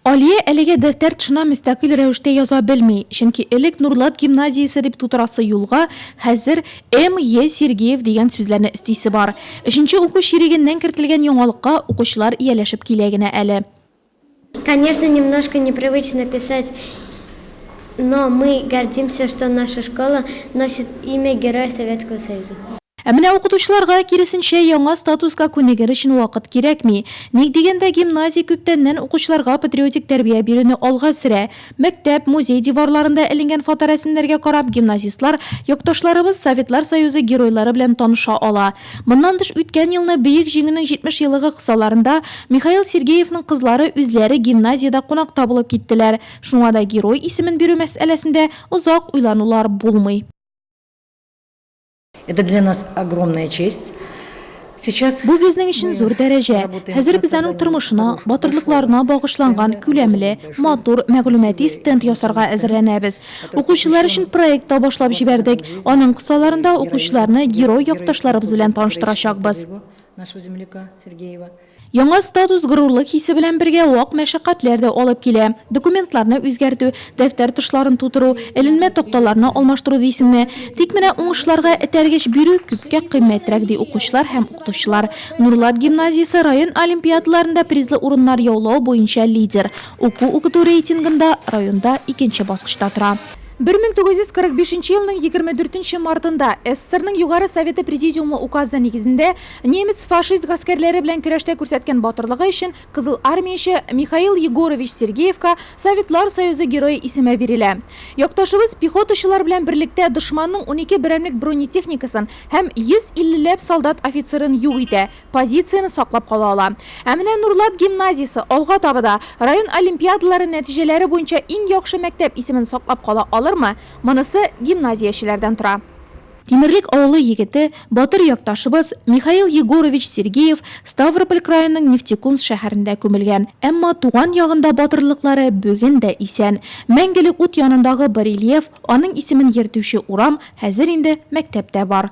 Алия әлегә дәфтәр тышына мөстәкыйль рәвештә яза белми, чөнки элек Нурлат гимназиясе дип тутырасы юлга хәзер М. Е. Сергеев дигән сүзләрне өстисе бар. Өченче уку чирегеннән кертелгән яңалыкка укучылар ияләшеп килә генә әле. Конечно, немножко непривычно писать Но мы гордимся, что наша школа носит имя Героя Советского Союза. Ә менә укытучыларга, киресенчә, яңа статуска күнегер өчен вакыт кирәкми. Ник дигәндә, гимназия күптәннән укучыларга патриотик тәрбия бирүне алга сөрә. Мәктәп, музей диварларында эленгән фоторәсемнәргә карап, гимназистлар якташларыбыз, Советлар Союзы геройлары белән таныша ала. Моннан тыш, үткән елны Бөек Җиңүнең 70 еллыгы кысаларында Михаил Сергеевның кызлары үзләре гимназиядә кунакта булып киттеләр. Шуңа да герой исемен бирү мәсьәләсендә озак уйланулар булмый. Это для нас огромная честь. Бу безнең өчен зур дәрәҗә. Хәзер без аның тормышына, батырлыкларына багышланган күләмле, матур мәгълүмати стенд ясарга әзерләнәбез. Укучылар өчен проект та башлап җибәрдек. Аның кысаларында укучыларны герой якташларыбыз белән таныштырачакбыз. Яңа статус горурлык хисе белән бергә вак мәшәкатьләр дә алып килә. Документларны үзгәртү, дәфтәр тышларын тутыру, эленмә такталарны алмаштыру дисеңме? Тик менә уңышларга этәргеч бирү күпкә кыйммәтрәк, ди укучылар һәм укытучылар. Нурлат гимназиясе район олимпиадаларында призлы урыннар яулау буенча лидер, уку-укыту рейтингында районда икенче баскычта тора. Бер мең тугыз йөз кырык бишенче елның егерме дүртенче мартында СССРның Югары Советы Президиумы указы нигезендә Немец-фашист гаскәрләре белән көрәштә күрсәткән батырлыгы өчен Кызыл Армияче Михаил Егорович Сергеевка Советлар Союзы Герое исеме бирелә. Якташыбыз пехотачылар белән берлектә дошманның унике берәмлек бронетехникасын һәм 150 ләп солдат офицерын юк итә, позицияне саклап кала ала. Ә менә Нурлат гимназиясе алга таба да район олимпиадалары нәтиҗәләре буенча иң яхшы мәктәп исемен саклап кала алырмы, монысы гимназиячеләрдән тора. Тимерлек авылы егете, батыр якташыбыз Михаил Егорович Сергеев Ставрополь краеның Нефтекумск шәһәрендә күмелгән. Әмма туган ягында батырлыклары бүген дә исән. Мәңгелек ут янындагы барельеф, аның исемен йөртүче урам, хәзер инде мәктәп тә бар.